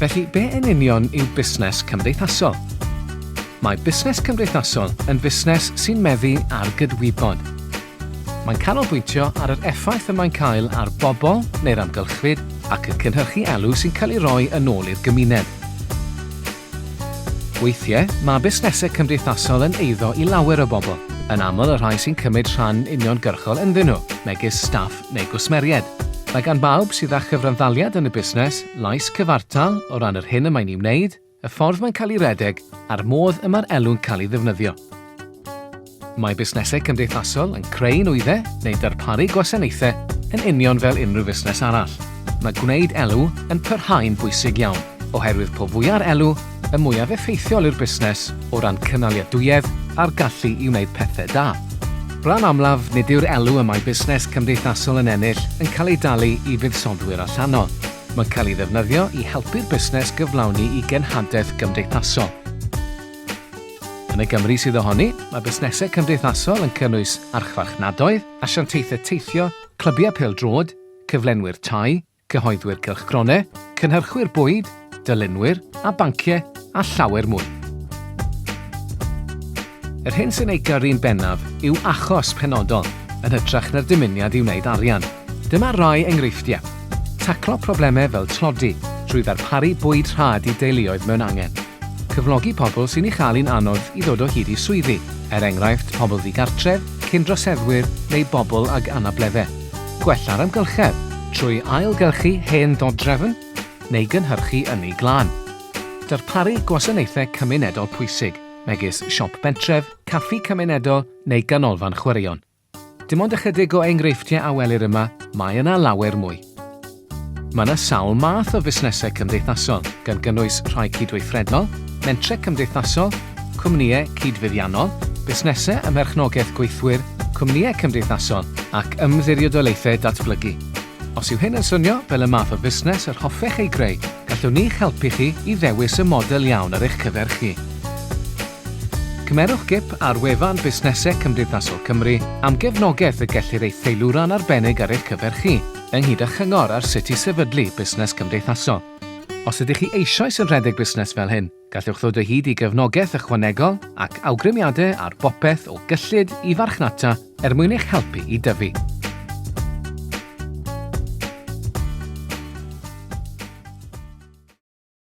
Felly, be yn union yw busnes cymdeithasol? Mae busnes cymdeithasol yn fusnes sy'n meddu ar gydwybod. Mae'n canolbwyntio ar yr effaith y mae'n cael ar bobl neu'r amgylchfyd ac yn cynhyrchu elw sy'n cael ei roi yn ôl i'r gymuned. Weithiau, mae busnesau cymdeithasol yn eiddo i lawer o bobl, yn aml y rhai sy'n cymryd rhan uniongyrchol ynddyn nhw, megis staff neu gwsmeriaid. Mae gan bawb sydd â chyfranddaliad yn y busnes lais cyfartal o ran yr hyn y mae'n ei wneud, y ffordd mae'n cael ei redeg a'r modd y mae'r elw'n cael ei ddefnyddio. Mae busnesau cymdeithasol yn creu nwyddau neu darparu gwasanaethau yn union fel unrhyw fusnes arall. Mae gwneud elw yn parhau'n bwysig iawn, oherwydd po fwya'r elw, y mwyaf effeithiol yw'r busnes o ran cynaliadwyedd a'r gallu i wneud pethau da. Bron amlaf, nid yw'r elw y mae busnes cymdeithasol yn ennill yn cael ei dalu i fuddsoddwyr allanol. Mae'n cael ei ddefnyddio i helpu'r busnes gyflawni i genhadaeth gymdeithasol. Yn y Gymru sydd ohoni, mae busnesau cymdeithasol yn cynnwys archfarchnadoedd, asiantaethau teithio, clybiau pêl-droed, cyflenwyr tai, cyhoeddwyr cylchgronau, cynhyrchwyr bwyd, dylunwyr a banciau, a llawer mwy. Yr hyn sy'n ei gyrru'n bennaf yw achos penodol, yn hytrach na'r dymuniad i wneud arian. Dyma rai enghreifftiau. Taclo problemau fel tlodi trwy ddarparu bwyd rhad i deuluoedd mewn angen. Cyflogi pobl sy'n ei chael hi'n anodd i ddod o hyd i swyddi, er enghraifft pobl ddigartref, cyn-droseddwyr neu bobl ag anableddau. Gwella'r amgylchedd trwy ailgylchu hen ddodrefn neu gynhyrchu ynni glân. Darparu gwasanaethau cymunedol pwysig, megis siop bentref, caffi cymunedol neu ganolfan chwaraeon. Dim ond ychydig o enghreifftiau a welir yma, mae yna lawer mwy. Mae yna sawl math o fusnesau cymdeithasol, gan gynnwys rhai cydweithredol, mentrau cymdeithasol, cwmnïau cydfuddiannol, busnesau ym merchnogaeth gweithwyr, cwmnïau cymdeithasol ac ymddiriedolaethau datblygu. Os yw hyn yn swnio fel y math o fusnes yr hoffech ei greu, gallwn ni'ch helpu chi i ddewis y model iawn ar eich cyfer chi. Cymerwch gip ar wefan Busnesau Cymdeithasol Cymru am gefnogaeth y gellir ei theilwra'n arbennig ar eich cyfer chi, ynghyd â chyngor ar sut i sefydlu busnes cymdeithasol. Os ydych chi eisoes yn rhedeg busnes fel hyn, Gallwch ddod o hyd i gefnogaeth ychwanegol ac awgrymiadau ar bopeth o gyllid i farchnata er mwyn eich helpu i dyfu.